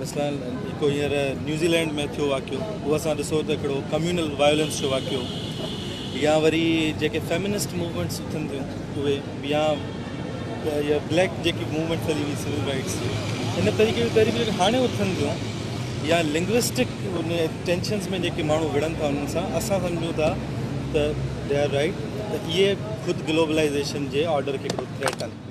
مثلن هڪڙو هينئر نيوزي لينڊ ۾ ٿيو واقعو اهو اسان ڏسو ته هڪڙو ڪميونل وائلنس جو واقعو يا وري جيڪي فيمنسٽ موومينٽس اٿن ٿيون اهي يا يا بليڪ جيڪي موومينٽس هلي وئي سول رائٽس جي ان طريقي جون تحريڪون جيڪي هاڻي اٿن ٿيون يا لنگوسٽڪ ان ٽينشنس ۾ جيڪي ماڻهو وڙهن ٿا انهن سان اسان سمجھون ٿا ته دي آر رائٽ ته اهي خود گلوبلائزيشن جي آرڊر کي هڪڙو ٿريٽ ڪن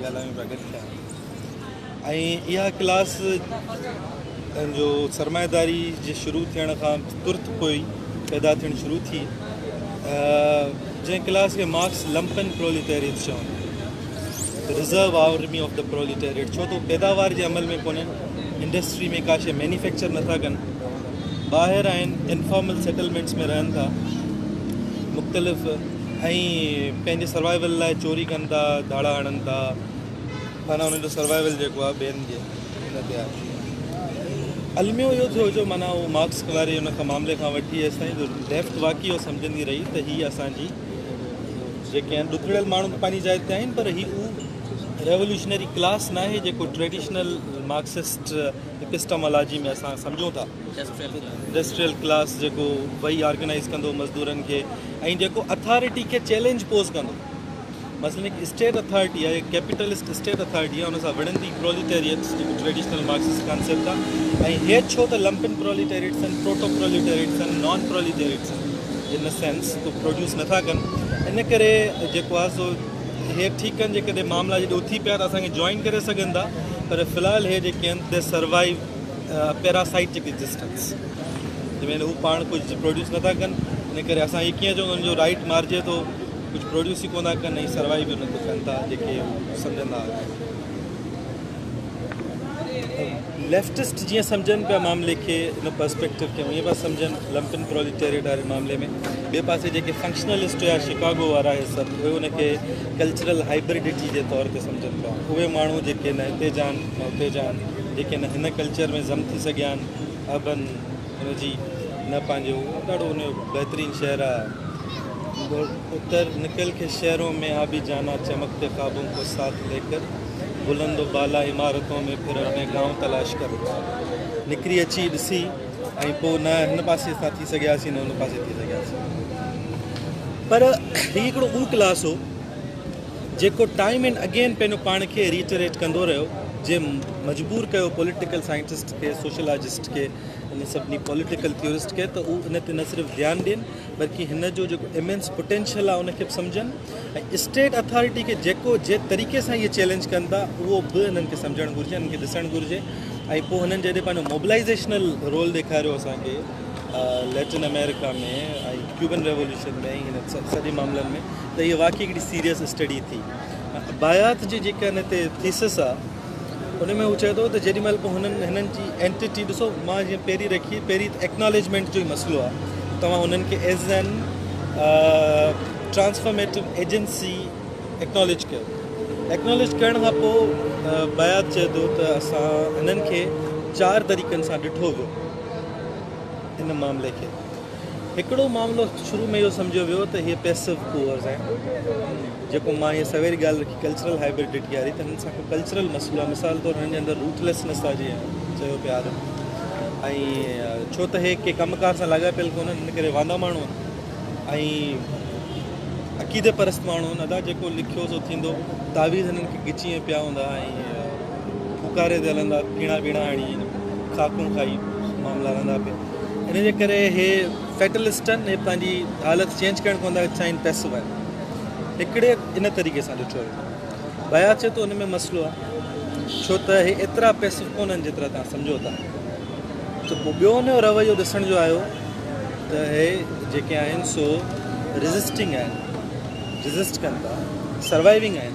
ڳالهايون پيا گڏ ٿيا ۽ اها ڪلاس جو سرمائيداري جي شروع ٿيڻ کان ترت پوء ئي پيدا ٿيڻ شروع ٿي جنهن ڪلاس کي مارڪس لمپن پروليٽيريٽ چون reserve army of the proletariat ڇو تو پيداوار جي عمل ۾ ڪونهن انڊسٽري ۾ ڪاشي مينيفيڪچر نٿا ڪن ٻاهر آهن انفارمل سيٽلمينٽس ۾ رهن ٿا مختلف ۽ پنهنجي سروائيول لاء چوري ڪن ٿا ڌاڙا هڻن ٿا معنيٰ انهن جو سروائيول جيڪو آهي ٻين جي ان تي آهي الميو اهو ٿيو جو معنيٰ اهو مارڪس واري ان کان معاملي کان وٺي ايستائين جو ليفٽ واقعي اهو سمجهندي رهي ته هي اسان جي جيڪي آهن ڏکڙيل ماڻهو ته پنهنجي جاء تي آهن پر هي اهو ريولوشنري ڪلاس ناهي جيڪو ٽريڊيشنل مارڪسسٽ اپسٽامالاجي ۾ اسان سمجهون ٿا انڊسٽريل ڪلاس جيڪو وئي آرگنائيز ڪندو مزدورن کي ۽ جيڪو اٿارٽي کي چئلينج پوز ڪندو مثلاً هڪ اسٽيٽ اٿارٽي آهي هڪ ڪيپيٽلسٽ اسٽيٽ اٿارٽي آهي ان سان وڙهندي پروليٽيريٽس جيڪو ٽريڊيشنل مارڪسس ڪانسيپٽ آهي ۽ هي ڇو ته لمپن پروليٽيريٽس آهن پروٽو پروليٽيريٽس آهن نان پروليٽيريٽس آهن ان ا سينس ڪو پروڊيوس نٿا ڪن ان ڪري جيڪو آهي سو هي ٺيڪ آهن جيڪڏهن معاملا جڏهن اٿي پيا ته اسان کي جوائن ڪري سگهن ٿا پر في الحال هي جيڪي آهن دي سروائو پيراسائٽڪ ايگزسٽنس جنهن ۾ هو پاڻ ڪجهه پروڊيوس نٿا ڪن ان ڪري اسان هي ڪيئن چون انهن جو رائيٽ مارجي ٿو ڪجهه پروڊيوس ئي ڪو نٿا ڪن ۽ سروائيو به نٿو ڪن ٿا جيڪي هو سمجهندا آهن ليفٽسٽ جيئن سمجهن پيا معاملي کي ان پرسپيڪٽو کي ائين پيا سمجهن لمپن پروليٽيريٽ واري معاملي ۾ ٻئي پاسي جيڪي فنڪشنلسٽ هيا شڪاگو وارا هي سڀ اهي ان کي ڪلچرل هائبرڊيٽي جي طور تي سمجهن پيا اهي ماڻهو جيڪي نه هتي جا آهن نه هتي جا آهن جيڪي نه هن ڪلچر ۾ ضم ٿي سگهيا آهن اربن ان جي نه پنهنجو ڏاڍو ان جو بهترين شهر آهي اتر نڪل کي شهرون ۾ آ بي جانا چمڪتي خوابون کو ساٿ لي ڪر بلند و بالا عمارتون ۾ پھرڻ ۾ گائون تلاش ڪر نڪري اچي ڏسي ۽ پو نه هن پاسي سان ٿي سگهياسي نه هن پاسي ٿي سگهياسي پر هي هڪڙو اون ڪلاس هو جيڪو ٽائيم اينڊ اگين پنهنجو پاڻ کي ريٽريٽ ڪندو رهيو جنهن مجبور ڪيو پوليٽيڪل سائنٽسٽ کي سوشلاجسٽ کي ان سڀني پوليٽيڪل ٿيورسٽ کي ته هو ان تي نه صرف ڌيان ڏين بلڪه هن جو جيڪو امينس پوٽينشل آهي ان کي به سمجهن ۽ اسٽيٽ اٿارٽي کي جيڪو جي طريقي سان اهي چيلينج ڪن ٿا اهو به انهن کي سمجهڻ گهرجي انهن کي ڏسڻ گهرجي ۽ پوء هنن جڏهن پنهنجو موبلائيزيشنل رول ڏيکاريو اسان کي ليٽن آمريڪا ۾ ۽ ڪيوبن ريولوشن ۾ ۽ هنن سڄي معاملن ۾ ته هيء واقعي هڪڙي سيريس اسٽڊي ٿي. باياٿ جي جيڪا هن تي ٿيسس آ ان ۾ هو چئي ٿو ته جيڏي مهل به هنن هنن جي اينٽيٽي ڏسو مان جيئن پهرين رکي پهرين ته ايڪناليجمينٽ جو ئي مسئلو آ توهان هنن کي as an transformative agency acknowledge ڪيو ايڪناليج ڪرڻ کان پوء باياٿ چئي ٿو ته اسان هنن کي چار طريقن سان ڏٺو ويو ان معاملي کي. هڪڙو معاملو شروع ۾ اهو سمجهيو ويو ته هي پيسو پوئرز آهن جيڪو مان هي سويري ڳالهه رکي ڪلچرل هائبرڊيٽي واري ته هنن سان ڪو ڪلچرل مسئلو آهي مثال طور هنن جي اندر روٿليسنس آهي جيئن چيو پيا آدم ۽ ڇو ته هي ڪي ڪم ڪار سان لاڳاپيل ڪونهن ان ڪري واندا ماڻهو ۽ عقيدي پرست ماڻهو ادا جيڪو لکيو سو ٿيندو تعويذ هنن کي ڳچيء ۾ پيا هوندا ۽ ڦوڪاري تي هلندا، ڪيڻا ٻيڻا هڻي، خاڪون کائي معاملا رهندا پيا. ان جي ڪري هي فيٽلسٽ آهن، هي پنهنجي حالت چينج ڪرڻ ڪونه ٿا چاهين، پئسو آهن. هڪڙي ان طريقي سان ڏٺو ويو. بياض چئي ٿو ان ۾ مسئلو آهي، ڇو ته هي ايترا پئسو ڪونه آهن جيترا توهان سمجهو ٿا. ته پوء ٻيو ان جو رويو ڏسڻ جو آيو ته هي جيڪي آهن سو ريزسٽنگ آهن، ريزسٽ ڪن ٿا، سروائيونگ آهن.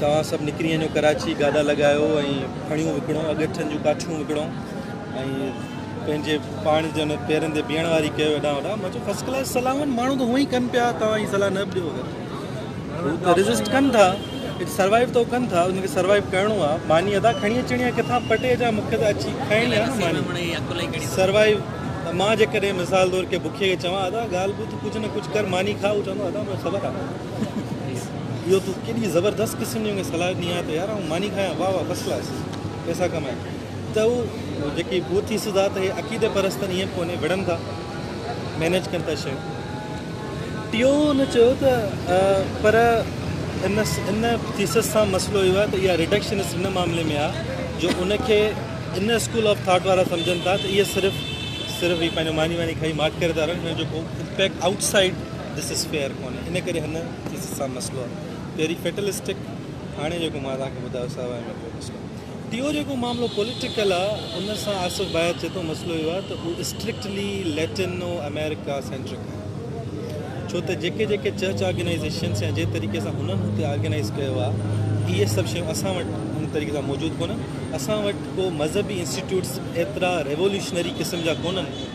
توهان سڀ نڪري وڃو ڪراچي گاڏا لڳايو ۽ ڦڻيون وڪڻو اڳيٺن جون ڪاٺيون وڪڻو ۽ پنهنجي پاڻ جن پيرن تي بيهڻ واري ڪيو اڏا اڏا مان چيو فرسٽ ڪلاس صلاحون ماڻهو ته هونئن ڪن پيا توهان هي صلاح نه ڏيو هو ته ريزسٽ ڪن ٿا سروائيو تو ڪن ٿا ان کي سروائيو ڪرڻو آ ماني ادا کڻي اچڻي آ ڪٿا پٽي جا مونکي ته اچي کائڻي آ نه ماني سروائيو ته مان جيڪڏهن مثال طور ڪي بکي کي چوان ادا ڳالهه ٻڌ ڪجهه نه ڪجهه ڪر ماني کاء هو چوندو ادا مونکي خبر آ اهو تون ڪيڏي زبردست قسم جي مونکي صلاح ڏني آهي ته يار آئون ماني کايان واه واه فرسٽ ڪلاس پئسا ڪمايان ته هو جيڪي بوٿي سڌا ته هي عقيدي پرستن ائين به ڪونهي وڙهن ٿا مينيج ڪن ٿا شيون ٽيو هن چيو ته پر ان ان ٿيسس سان مسئلو اهو آهي ته اها ريڊڪشنس ان معاملي ۾ آهي جو ان کي ان اسڪول آف ٿاٽ وارا سمجھن ٿا ته اهي صرف صرف هي پنهنجو ماني واني کائي ماٺ ڪري ٿا رهن هن جو ڪو impact outside this is fair ڪونهي ان ڪري هن چيز سان مسئلو آهي پهرين فيٽلسٽڪ هاڻي جيڪو مان توهان کي ٻڌايو سا وائي ميڪرو مسئلو ٽيون جيڪو معاملو پوليٽيڪل آ ان سان آصف بايت چي ٿو مسئلو اهو آ ته اهو اسٽرڪٽلي ليٽنو آمريڪا سينٽرڪ آهي ڇو ته جيڪي جيڪي چرچ آرگنائيزيشنس يا جنهن طريقي سان هنن هتي آرگنائيز ڪيو آ اهي سڀ شيون اسان وٽ ان طريقي سان موجود ڪونهن اسان وٽ ڪو مذهبي انسٽيٽيوٽس ايترا ريولوشنري قسم جا ڪونهن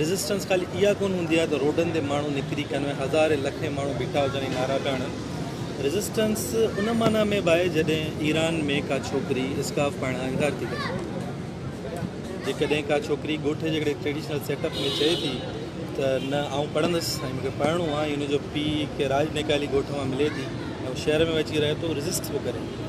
ريزسٽنس خالي اها ڪونه هوندي آهي ته روڊن تي ماڻهو نڪري ڪن ۾ هزارين لکين ماڻهو بيٺا هجن ۽ نعرا پيا هڻن. ريزسٽنس ان معنيٰ ۾ به آهي جڏهن ايران ۾ ڪا ڇوڪري اسڪارف پائڻ کان انڪار ٿي ڪري. جيڪڏهن ڪا ڇوڪري ڳوٺ جي هڪڙي ٽريڊيشنل سيٽ اپ ۾ چئي ٿي ته نه آئون پڙهندس ۽ مون کي پڙهڻو آهي ۽ ان جو پيء کي راڄ نيڪالي ڳوٺ مان ملي ٿي ۽ هو شهر ۾ به اچي رهي ٿو ريزسٽ به ڪري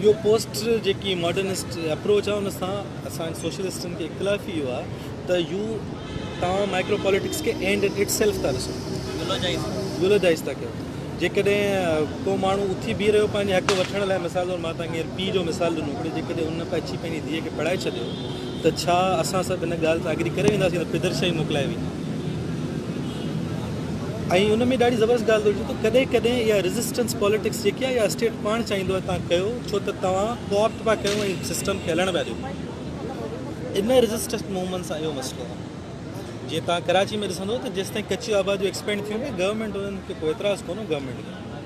اهو پوسٽ جيڪي ماڊرنسٽ اپروچ آهي ان سان اسان سوشلسٽن کي اختلافي اهو آهي ته يو توهان مائڪرو پاليٽڪس کي اينڊ ان اٽ سيلف ٿا ڏسو يولوجائز ٿا ڪيو جيڪڏهن ڪو ماڻهو اٿي بيهي رهيو پنهنجي حق وٺڻ لاء مثال طور مان توهان کي پيء جو مثال ڏنو جيڪڏهن ان اچي پنهنجي ڌيء کي پڙهائي ڇڏيو ته ڇا اسان سڀ ان ڳالهه سان ايگري ڪري وينداسين ته پدرشاهي موڪلائي وئي ۽ ان ۾ ڏاڍي زبردست ڳالهه ٿو ته ڪڏهن ڪڏهن اها ريزسٽنس پاليٽڪس جيڪي آهي اها اسٽيٽ پاڻ چاهيندو آهي تان ڪيو ڇو ته توهان ڪوآپٽ پيا ڪيو ۽ سسٽم کي هلڻ پيا ڏيو ان ريزسٽنس موومينٽ سان اهو مسئلو آهي جيئن توهان ڪراچي ۾ ڏسندو ته جيستائين ڪچيون آباديون ايڪسپينڊ ٿيون پيون گورنمينٽ انهن کي ڪو اعتراض ڪونه گورنمينٽ کي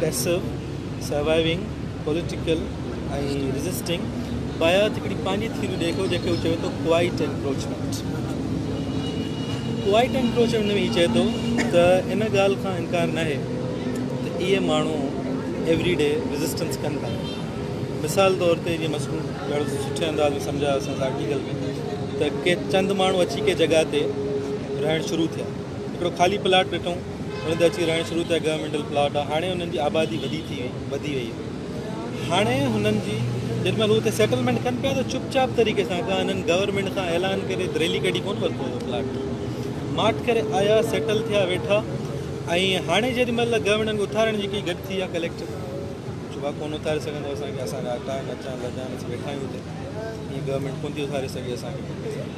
Passive، Surviving، Political ۽ Resisting بايات هڪڙي پنهنجي ٿيوري ڏئي ٿو جنهن کي هو چوي ٿو Quiet Encroachment. Quiet Encroachment ۾ هي چئي ٿو ته ان ڳالهه کان انڪار ناهي ته اهي ماڻهو ايوري ڊي ريزسٽنس ڪن ٿا. مثال طور تي جيئن مس ڏاڍو سٺي انداز ۾ سمجهايو اسان آرٽيڪل ۾ ته ڪي چند ماڻهو اچي ڪي جڳهه تي رهڻ شروع ٿيا هڪڙو خالي پلاٽ ڏٺون انهن تي اچي رهڻ شروع ٿيا گورنمينٽل پلاٽ آ هاڻي انهن جي آبادي وڌي ٿي وڌي وئي هاڻي هنن جي جن مهل اتي سيٽلمينٽ ڪن پيا ته چپ چاپ طريقي سان ڪا هنن گورنمينٽ کان اعلان ڪري دريلي ڪڍي ڪون ورتو هو پلاٽ ماٺ ڪري آيا سيٽل ٿيا ويٺا ۽ هاڻي جيڏي مهل گورنمينٽ کي اٿارڻ جي ڪي گڏ ٿي ويا ڪليڪٽر چوبا ڪون اٿاري سگهندو اسان کي اسان جا اٽا نچا لجا نچ ويٺا آهيون اتي ائين گورنمينٽ ڪون ٿي اٿاري سگهي اسان کي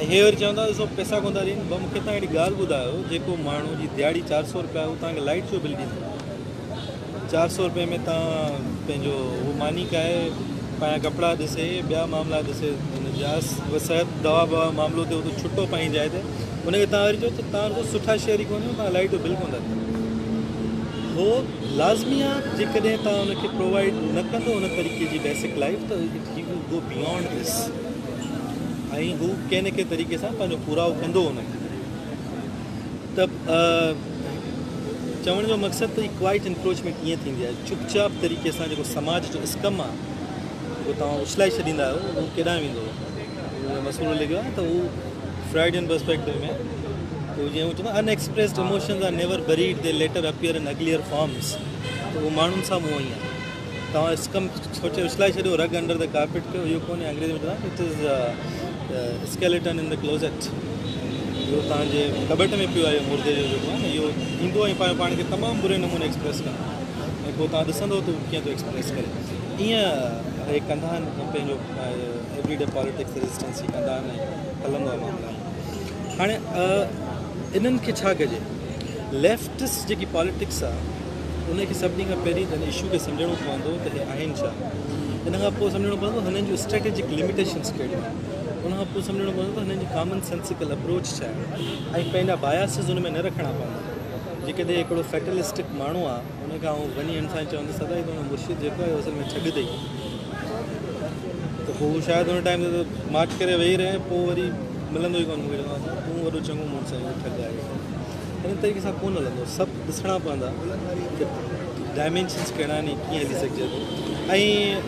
۽ هي وري چون ٿا ته سو پئسا ڪونه ٿا ڏين، ڀا مون کي تان هڪڙي ڳالهه ٻڌايو جيڪو ماڻهو جي ديهاڙي چار سئو روپيا هو تان کي لائيٽ جو بل ڏيندو چار سئو روپئي ۾ تان پنهنجو هو ماني کائي پنهنجا ڪپڙا ڏسي ٻيا معاملا ڏسي ان جا صحت دوا بوا معاملو ٿيو ته ڇٽو پنهنجي جاء تي ان کي تان وري چئو ته تان وري سٺا شهر ئي ڪونه تان لائيٽ جو بل ڪونه ٿا ڏيو هو لازميات جيڪڏهن تان ان کي پرووائيڊ نه ڪندو ان طريقي جي بيسڪ لائيف ته it he will go beyond this ۽ هو ڪنهن نه ڪنهن طريقي سان پنهنجو پورائو ڪندو ان کي ته چوڻ جو مقصد ته ڪوائٽ انڪروچمينٽ ائين ٿيندي آهي چپ چاپ طريقي سان جيڪو سماج جو اسڪم آهي جيڪو توهان اڇلائي ڇڏيندا آهيو اهو ڪيڏانهن ويندو اهو مسئلو لڳيو آهي ته اهو فرائڊين پرسپيڪٽو ۾ تو جيئن هو چوندا unexpressed emotions are never buried they later appear in uglier forms ته اهو ماڻهن سان به اهو ائين آهي توهان اس ڪم سوچي اڇلائي ڇڏيو رگ انڊر دي ڪارپيٽ ڪيو اهو ڪونهي انگريزي ۾ چوندا آهن it is the skeleton in the closet اهو توهان جي ڪٻٽ ۾ پيو آهي مردي جو جيڪو آهي اهو ايندو ۽ پنهنجو پاڻ کي تمام بري نموني ايڪسپريس ڪندو ۽ پوء توهان ڏسندو ته ڪيئن ٿو ايڪسپريس ڪري ايئن هي ڪندا آهن پنهنجو ايوري ڊي پاليٽڪس ريزسٽنس هي ڪندا آهن ۽ هلندو آهي معاملا هاڻي انهن کي ڇا ڪجي ليفٽس جيڪي پاليٽڪس آهي ان کي سڀني کان پهرين هن اشو کي سمجهڻو پوندو ته هي آهن ڇا؟ ان کان پوء سمجهڻو پوندو هنن جون اسٽريٽجڪ لميٽيشنز ڪهڙيون آهن؟ ان کان پوء سمجهڻو پوندو ته هنن جي ڪامن سينسيڪل اپروچ ڇا آهي ۽ پنهنجا باياسز ان ۾ نه رکڻا پوندا. جيڪڏهن هڪڙو فيٽلسٽڪ ماڻهو آ ان کان آئون وڃي هن سان چوندس ادا هي تنهنجو مرشد جيڪو آهي اهو اصل ۾ ٺڳ اٿئي ته پوء هو شايد ان ٽائيم تي ته ماٺ ڪري ويهي رهي ۽ پوء وري ملندو ئي ڪونه مون کي چوندو تون وڏو چڱو مڙس آهين اهو ٺڳ آهي ان طريقي سان ڪونه هلندو سڀ ڏسڻا پوندا ته ڊائمينشنس ڪهڙا آهن ۽ ڪيئن هلي سگهجي ٿو ۽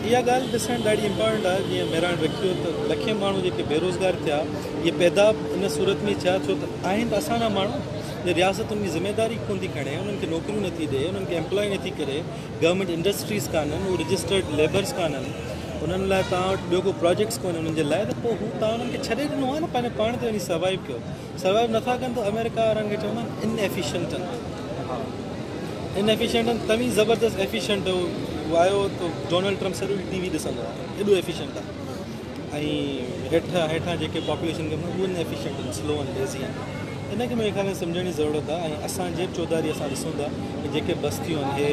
اها ڳالهه ڏسڻ ڏاڍي امپارٽنٽ آهي جيئن مهراڻ رکيو ته لکين ماڻهو جيڪي بيروزگار ٿيا اهي پيدا ان صورت ۾ ٿيا ڇو ته آهن ته اسان جا ماڻهو جو رياست ان جي ذميواري ڪونه ٿي کڻي انهن کي نوڪريون نٿي ڏئي انهن کي امپلائي نٿي ڪري گورنمينٽ انڊسٽريز ڪانه آهن اهي رجسٽرڊ ليبرس ڪانه آهن انهن لاء توهان وٽ ٻيو ڪو پروجيڪٽس ڪونهن انهن جي لاء ته پوء هو توهان انهن کي ڇڏي ڏنو آهي نه پنهنجو پاڻ تي وڃي سروائيو ڪيو سروائيو نه ٿا ڪن ته آمريڪا وارن کي چوندا آهن ان ايفيشنٽ ان ايفيشنٽ توهين زبردست ايفيشنٽ هو آيو تو ڊونلڊ ٽرمپ سڄو ٽي وي ڏسندو آهي ايڏو ايفيشنٽ آهي ۽ هيٺ هيٺان جيڪي پاپوليشن ڪم اهو ان ايفيشنٽ آهن سلو ان ليزي آهن ان کي منهنجي خيال ۾ سمجهڻ جي ضرورت آهي ۽ اسان جيب چوڌاري اسان ڏسون ٿا ته جيڪي بستيون آهن هي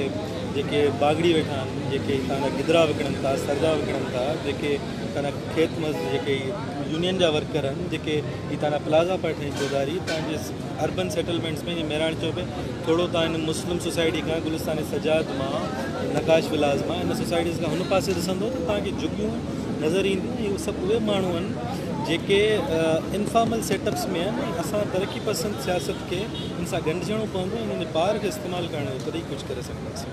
جيڪي باغڙي ويٺا آهن جيڪي هتان جا گدرا وڪڻن ٿا سردا وڪڻن ٿا جيڪي هتان جا کيت مز جيڪي يونين جا ورڪر آهن جيڪي هي تان ڏانهن پلازا پيا ٺهين چوڌاري تان جي اربن سيٽلمينٽس ۾ جي مهراڻ چوڪ ۾ ٿورو تان هن مسلم سوسائٽي کان گلستان سجاد مان نقاش ولاز مان ان سوسائٽيز کان هن پاسي ڏسندو ته تان کي جهڳيون نظر اينديون ۽ هي سڀ اهي ماڻهو آهن جيڪي انفارمل سيٽ اپس ۾ آهن ۽ اسان ترقي پسند سياست کي ان سان ڳنڍجڻو پوندو ۽ انهن جي پاور کي استعمال ڪرڻ جو تڏهن ئي ڪجهه ڪري سگهنداسين.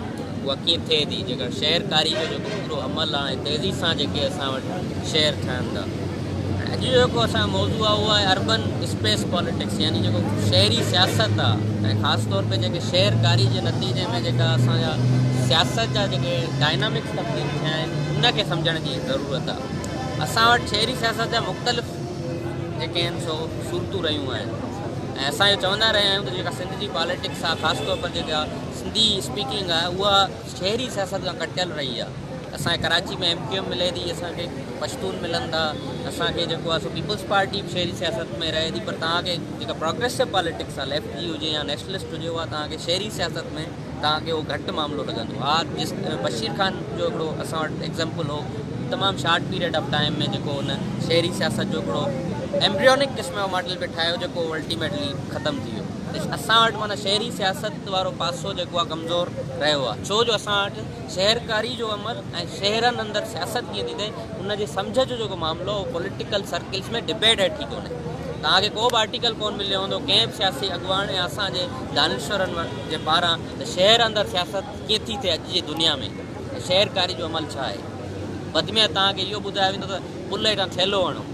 اها ڪيئن ٿئي ٿي جيڪر شعر ڪاري جو جيڪو پورو عمل آهي تيزي سان جيڪي اسان وٽ شعر ٺهن ٿا ۽ اڄ جو جيڪو اسان موضوع آهي اهو آهي اربن اسپيس پاليٽڪس يعني جيڪو شهري سياست آهي ۽ خاص طور تي جيڪي شعر ڪاري جي نتيجي ۾ جيڪا اسان جا سياست جا جيڪي ڊائنامڪس تبديل ٿيا آهن ان کي سمجھڻ جي ضرورت آهي اسان وٽ شهري سياست جا مختلف جيڪي آهن سو صورتون رهيون آهن ۽ اسان جو چوندا رهيا آهيون ته جيڪا سنڌ جي پاليٽڪس آهي خاص طور پر جيڪا سنڌي اسپيڪنگ آهي اها شهري سياست کان ڪٽيل رهي آهي اسان کي ڪراچي ۾ ايم ڪيو ايم ملي ٿي اسان کي پشتون ملن ٿا اسان کي جيڪو آهي سو پيپلز پارٽي به شهري سياست ۾ رهي ٿي پر توهان کي جيڪا پروگريسو پاليٽڪس آهي ليفٽ جي هجي يا نيشنلسٽ هجي اها توهان کي شهري سياست ۾ توهان کي اهو گهٽ معاملو لڳندو ها جس بشير خان جو هڪڙو اسان وٽ ايگزامپل هو تمام شارٽ پيريڊ آف ٽائيم ۾ جيڪو هن شهري سياست جو هڪڙو ايمبريونڪ قسم جو ماڊل به ٺاهيو جيڪو الٽيميٽلي ختم ٿي ويو اسان وٽ معنيٰ شهري سياست وقت وارو پاسو جيڪو آهي ڪمزور رهيو آهي ڇو جو اسان وٽ شهرڪاري جو عمل ۽ شهرن اندر سياست ڪيئن ٿيندي ان جي سمجهه جو جيڪو معاملو اهو پوليٽيڪل سرڪلز ۾ ڊبيٽ هيٺ ٿي ڪونهي توهان کي ڪو به آرٽيڪل ڪون مليو هوندو ڪنهن به سياسي اڳواڻ ۽ اسان جي دانشورن جي پاران ته شهر اندر سياست ڪيئن ٿي ٿئي اڄ جي دنيا ۾ شهرڪاري جو عمل ڇا آهي وڌ ۾ وڌ توهان کي اهو ٻڌايو ويندو ته پلئي کان ٿيلهو هڻو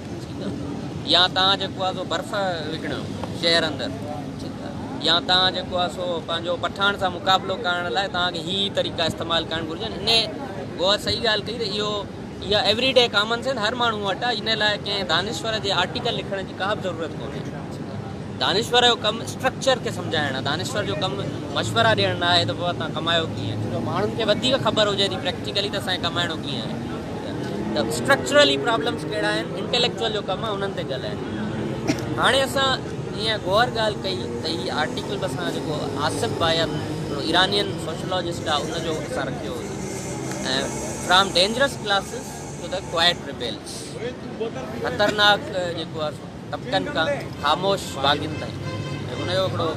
يا توهان جيڪو آهي سو برف وڪڻيو شهر اندر يا توهان جيڪو آهي سو پنهنجو پٺاڻ سان مقابلو ڪرڻ لاء توهان کي هي طريقا استعمال ڪرڻ گهرجن ان غور صحيح ڳالهه ڪئي ته اهو اها ايوري ڊي ڪامن سينس هر ماڻهو وٽ آهي ان لاء ڪنهن دانشور جي آرٽيڪل لکڻ جي ڪا به ضرورت ڪونهي دانشور جو ڪم اسٽرڪچر کي سمجهائڻ آهي، دانشور جو ڪم مشورا ڏيڻ نه آهي ته پوء توهان ڪمايو ڪيئن. جو ماڻهن کي وڌيڪ خبر هجي ٿي پريڪٽيڪلي ته اسان کي ڪمائڻو ڪيئن آهي ته اسٽرڪچرلي پرابلمز ڪهڙا آهن، انٽيليڪچوئل جو ڪم آهي انهن تي ڳالهائڻ. هاڻي اسان جيئن غور ڳالهه ڪئي ته هي آرٽيڪل به اسان جيڪو آصف بايان هڪڙو ايرانين سوشلاجسٽ آهي ان جو اسان رکيو هو ۽ from dangerous classes to the quiet rebels خطرناڪ جيڪو آهي سو طبقن کان خاموش باغين تائين ۽ ان جو هڪڙو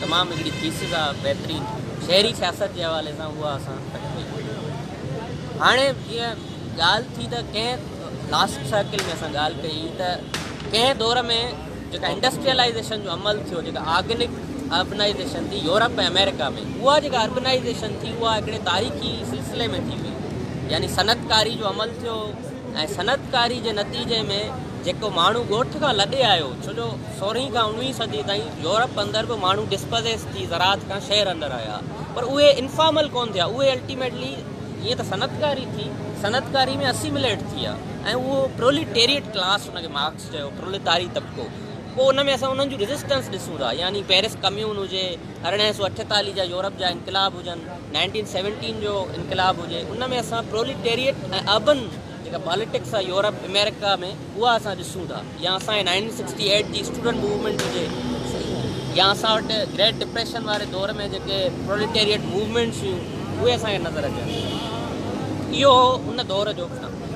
تمام هڪڙي ٿيسز آهي بهترين شهري سياست جي حوالي سان اها اسان پيش ڪئي هئي هاڻي جيئن ڳالهه ٿي ته ڪنهن لاسٽ سائيڪل ۾ اسان ڳالهه ڪئي ته ڪنهن دور ۾ جيڪا انڊسٽريلائزيشن جو عمل ٿيو جيڪا آرگنڪ اربنائزيشن ٿي يورپ ۽ آمريڪا ۾ اها جيڪا اربنائزيشن ٿي اها هڪڙي تاريخي سلسلي ۾ ٿي وئي يعني صنعتڪاري جو عمل ٿيو ۽ صنعتڪاري جي نتيجي ۾ جيڪو ماڻهو ڳوٺ کان لڏي آيو ڇو جو سورهين کان اوڻوهين صدي تائين يورپ اندر به ماڻهو ڊسپزيس ٿي زراعت کان شهر اندر آيا پر اهي انفارمل ڪونه ٿيا اهي الٽيميٽلي جيئن ته صنعتڪاري ٿي صنعتڪاري ۾ اسيمليٽ ٿي ويا ۽ اهو پروليٽيريٽ ڪلاس ان کي مارڪس چيو پروليتاري طبقو پوء ان ۾ اسان انهن جون ريزسٽنس ڏسون ٿا يعني پيرس ڪميون هجي ارڙهن سؤ اٺيتاليهه جا يورپ جا انقلاب هجن نائنٽين سيونٽين جو انقلاب هجي ان ۾ اسان پروليٽيريٽ ۽ اربن جيڪا پاليٽڪس آهي يورپ امريڪا ۾ اها اسان ڏسون ٿا يا اسان کي نائنٽين سڪسٽي ايٽ جي اسٽوڊنٽ موومينٽ هجي يا اسان وٽ گريٽ ڊپريشن واري دور ۾ جيڪي پروليٽيريٽ موومينٽس هيون اهي اسان کي نظر اچن اهو هو ان دور جو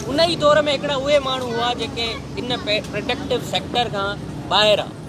ان ئي دور ۾ هڪڙا اهي ماڻهو هئا جيڪي ان پرڊڪٽو سيڪٽر کان ٻاهر آ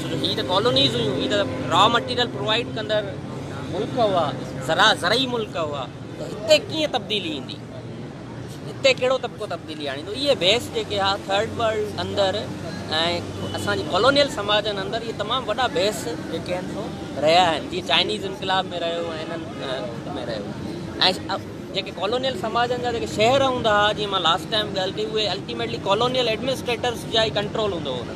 ڇو جو هي ته ڪالونيز هيون، هي ته را مٽيريل پرووائيڊ ڪندڙ ملڪ هئا، زرا زرعي ملڪ هئا ته هتي ڪيئن تبديلي ايندي، هتي ڪهڙو طبقو تبديلي آڻيندو، اهي بحث جيڪي ها ٿرڊ ورلڊ اندر ۽ اسان جي ڪالونيل سماجن اندر اهي تمام وڏا بحث جيڪي آهن سو رهيا آهن، جيئن چائنيز انقلاب ۾ رهيو ۽ هنن ۾ رهيو ۽ جيڪي ڪالونيل سماجن جا جيڪي شهر هوندا ها جيئن مان لاسٽ ٽائيم ڳالهه ڪئي اهي الٽيميٽلي ڪالونيل ايڊمنسٽريٽرز جا ئي ڪنٽرول هوندو هو انهن تي.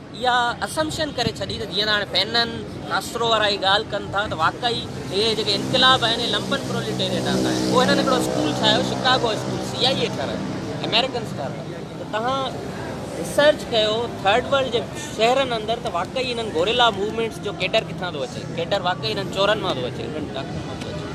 اها اسمپشن ڪري ڇڏي ته جيئن ته هاڻي فينن، ڪاسترو وارا هي ڳالهه ڪن ٿا ته واقعي هي جيڪي انقلاب آهن هي لمپن پروليٽيريٽ آندا آهن. پوء هنن هڪڙو اسڪول ٺاهيو Chicago school C I A ٺهرايو امريڪنس ٺهرايو ته توهان ريسرچ ڪيو ٿرڊ ورلڊ جي شهرن اندر ته واقعي هنن گوريلا موومينٽس جو ڪيڊر ڪٿان ٿو اچي ڪيڊر واقعي هنن چورن مان ٿو اچي هنن ڊاڪوئن مان ٿو اچي.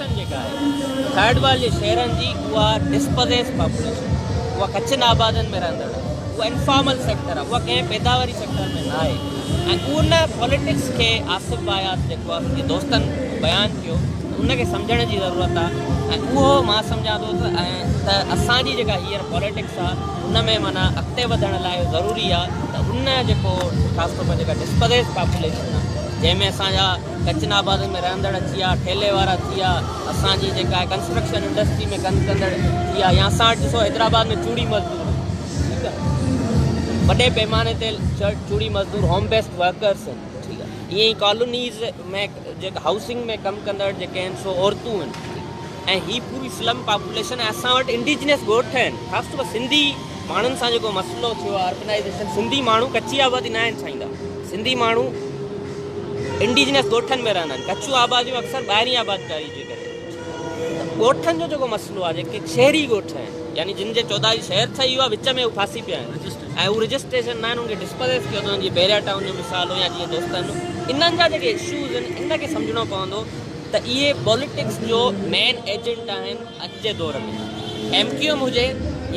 پاڪستان جيڪا آهي ٿرڊ ورلڊ جي شهرن جي اها ڊسپزيس پاپوليشن اها ڪچن آبادين ۾ رهندڙ آهي اها انفارمل سيڪٽر آهي اها ڪنهن پيداواري سيڪٽر ۾ ناهي ۽ ان پوليٽڪس کي آصف بايات جيڪو آصف جي دوستن بيان ڪيو ته ان کي سمجهڻ جي ضرورت آهي ۽ اهو مان سمجهان ٿو ته ته اسان جي جيڪا هينئر پوليٽڪس آهي ان ۾ معنيٰ اڳتي وڌڻ لاء اهو ضروري آهي ته ان جيڪو خاص طور پر جيڪا ڊسپزيس پاپوليشن آهي جنهن ۾ اسان جا ڪچن آبادين ۾ رهندڙ ٿيا، ٺيلي وارا ٿيا، اسان جي جيڪا آهي ڪنسٽرڪشن انڊسٽري ۾ ڪم ڪندڙ ٿيا يا اسان وٽ ڏسو حيدرآباد ۾ چوڙي مزدور ٺيڪ آهي وڏي پيماني تي چوڙي مزدور هوم بيسڊ ورڪرس آهن ٺيڪ آهي ائين ڪالونيز ۾ جيڪا هائوسنگ ۾ ڪم ڪندڙ جيڪي آهن سو عورتون آهن ۽ هي پوري سلم پاپوليشن ۽ اسان وٽ انڊيجنس ڳوٺ آهن خاص طور پر سنڌي ماڻهن سان جيڪو مسئلو ٿيو آهي اربنائيزيشن سنڌي ماڻهو ڪچي آبادي نه آهن ڇائيندا سنڌي ماڻهو انڊيجنس ڳوٺن ۾ رهندا آهن ڪچيون آباديون اڪثر ٻاهرين آبادڪاري جي ڪري ڳوٺن جو جيڪو مسئلو آهي جيڪي شهري ڳوٺ آهن يعني جن جي چوڌاري شهر ٺهي ويو وچ ۾ ڦاسي پيا آهن ۽ هو رجسٽريشن نه آهن ڊسپليس ٿيو اٿن جي بيريا ٽائون جو مثال هو يا جيئن دوستن انهن جا جيڪي اشوز آهن ان کي سمجهڻو پوندو ته اهي پاليٽڪس جو مين ايجنٽ آهن اڄ جي دور ۾ ايم ڪيو ايم هجي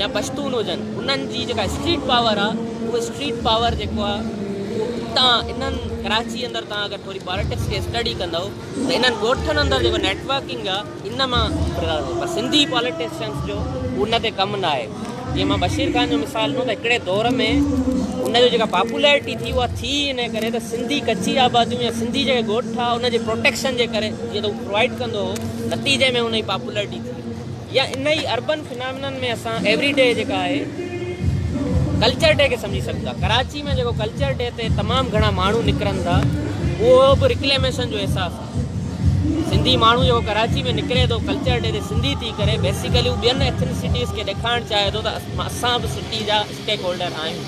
يا پشتون هجن انهن جي جيڪا اسٽريٽ پاور آهي اهو اسٽريٽ پاور جيڪو آهي اهو اتان انهن ڪراچي اندر تان اگر ٿوري پاليٽڪس کي اسٽڊي ڪندؤ ته انهن ڳوٺن اندر جيڪو نيٽ ورڪنگ آهي ان مان پر سنڌي پاليٽيشنس جو ان تي ڪم نه آهي جيئن مان بشير خان جو مثال ڏنو ته هڪڙي دور ۾ ان جو جيڪا پاپولرٽي ٿي اها ٿي ان ڪري ته سنڌي ڪچي آباديون يا سنڌي جيڪي ڳوٺ هئا ان جي پروٽيڪشن جي ڪري جيئن ته هو پرووائيڊ ڪندو هو نتيجي ۾ ان جي پاپولرٽي ٿي يا ان ئي اربن فنامنن ۾ اسان ايوري ڊي جيڪا آهي ڪلچر ڊي کي سمجهي سگهون ٿا ڪراچي ۾ جيڪو ڪلچر ڊي تي تمام گهڻا ماڻهو نڪرن ٿا اهو به رڪليميشن جو احساس سنڌي ماڻهو جيڪو ڪراچي ۾ نڪري ٿو ڪلچر ڊي تي سنڌي ٿي ڪري بيسيڪلي هو ٻين ايٿنسٽيز کي ڏيکارڻ چاهي ٿو ته اسان به سٽي جا اسٽيڪ هولڊر آهيون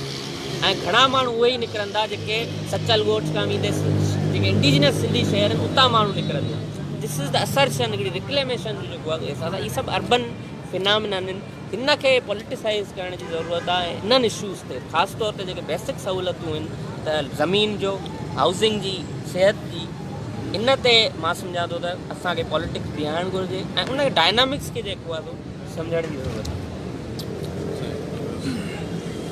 ۽ گهڻا ماڻهو اهي ئي نڪرن ٿا جيڪي سچل ڳوٺ کان ويندي جيڪي انڊيجنس سنڌي شهر آهن اتان ماڻهو نڪرن ٿا دس از د اسرشن هڪڙي رڪليميشن جو جيڪو احساس آهي هي سڀ اربن فنامنا آهن ان کي پوليٽيسائيز ڪرڻ جي ضرورت آهي ۽ انهن اشوز تي خاص طور تي جيڪي بيسڪ سهولتون آهن ته زمين جو، هائوسنگ جي، صحت جي ان تي مان سمجهان ٿو ته اسان کي پوليٽڪس بيهارڻ گهرجي ۽ ان ڊائنامڪس کي جيڪو آهي سو سمجهڻ جي ضرورت آهي.